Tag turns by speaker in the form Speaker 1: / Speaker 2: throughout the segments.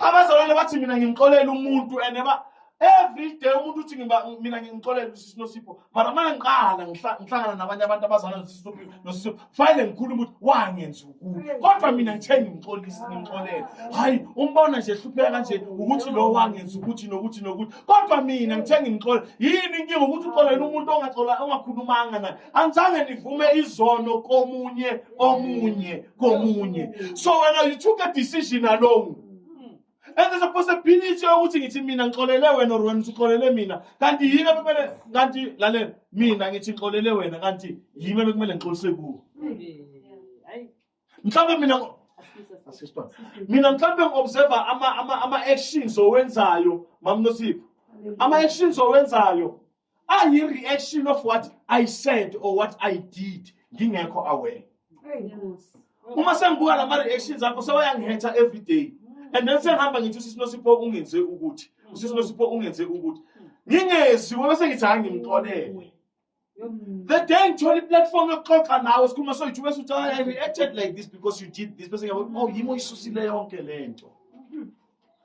Speaker 1: abazalwane bathi mina ngimxolela umuntu and ba every day umuntu uthi mina ngimxolela usisi nosipho mara uma ngiqala ngihlangana nabanye abantu abazalwane nosipho fanele ngikhulume ukuthi wangenza ukubi kodwa mina ngithe ngimxolisi ngimxolele hhayi umbona nje hlupheka kanje ukuthi lo wangenza ukuthi nokuthi nokuthi kodwa mina ngithe ngimxolele yini inkinga ukuthi uxolela umuntu ongakhulumanga naye angizange nivume izono komunye omunye komunye so wena you took a decision alone and there's a possibility yokuthi ngithi mina ngixolele wena or wena usixolele mina kanti yini abekumele kanti lalela mina ngithi ngixolele wena kanti yini abekumele ngixolise kuwo mhlawumbe mina mina mhlawumbe ngi-observa ama-actions owenzayo mamnosipho ama-actions owenzayo ayi-reaction of what i said or what i did ngingekho aware uma sengibuka la ma-reactions akho sewayangihetha every day and then sengihamba ngithi usisi nosipho ungenze ukuthi usisi nosipho ungenze ukuthi ngingezi wena sengithi hayi ngimxolele the day ngithola iplatform yokuxoxa nawe sikhuluma soyithi bese uthi i reacted like this because you did this bese ngiyabona oh yimi oyisusile yonke le nto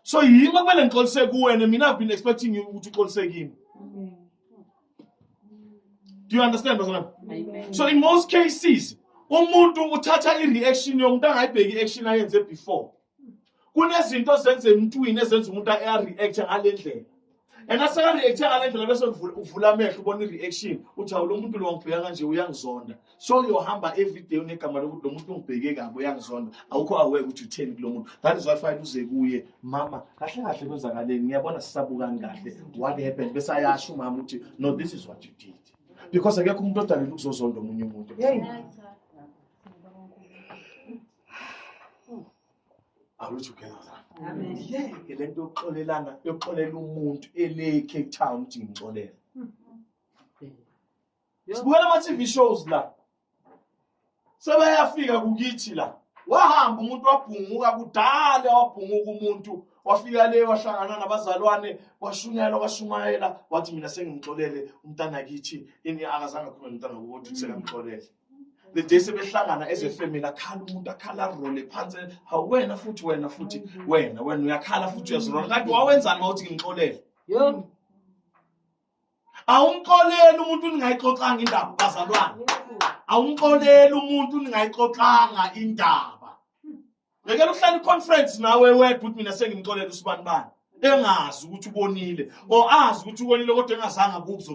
Speaker 1: so yimi okumele ngixolise kuwena mina i've been expecting you ukuthi uxolise kimi do you understand bazalwane so in most cases umuntu uthatha i-reaction yomuntu angayibheki i-action ayenze before kunezinto ezenza emntwini ezenza umuntu a-react ngale ndlela and aseka-reacthe ngale ndlela bese uvula amehlo ubona i-reaction uthi awu lo muntu lo wangibheka kanje uyangizonda so uyohamba everyday unegama lokuthi lo muntu ungibheke kabi uyangizonda awukho aware ukuthi utheni kulo muntu that is why fine uze kuye mama kahle kahle kwenzakaleni ngiyabona sisabukani kahle what happened bese ayasho umama ukuthi no this is what you did because akekho umuntu odalele ukuzozonda omunye umuntu Are we together? Amen. Ngeke le nto yokuxolelana yokuxolela umuntu ele Cape Town ukuthi ngimxolele. Sibukela ama-TV shows la. Sebayafika kukithi la. Wahamba umuntu wabhunguka kudala wabhunguka umuntu wafika le wahlangana nabazalwane washunyayela washumayela wathi mina sengimxolele umntana kithi ini akazange akhulume nomntana wokuthi sekamxolele. the day sebehlangana as a family akhala umuntu akhala arole phansi hawu wena futhi wena futhi wena wena uyakhala futhi uyazirola kanti wawenzani wawuthi ngimxolele awumxoleli umuntu ningayixoxanga indaba bazalwane awumxoleli umuntu ningayixoxanga indaba ngekela uhlala iconference nawe wedwa uthi mina sengimxolele usibanibani engazi ukuthi ubonile or azi ukuthi ubonile kodwa engazange akuzwe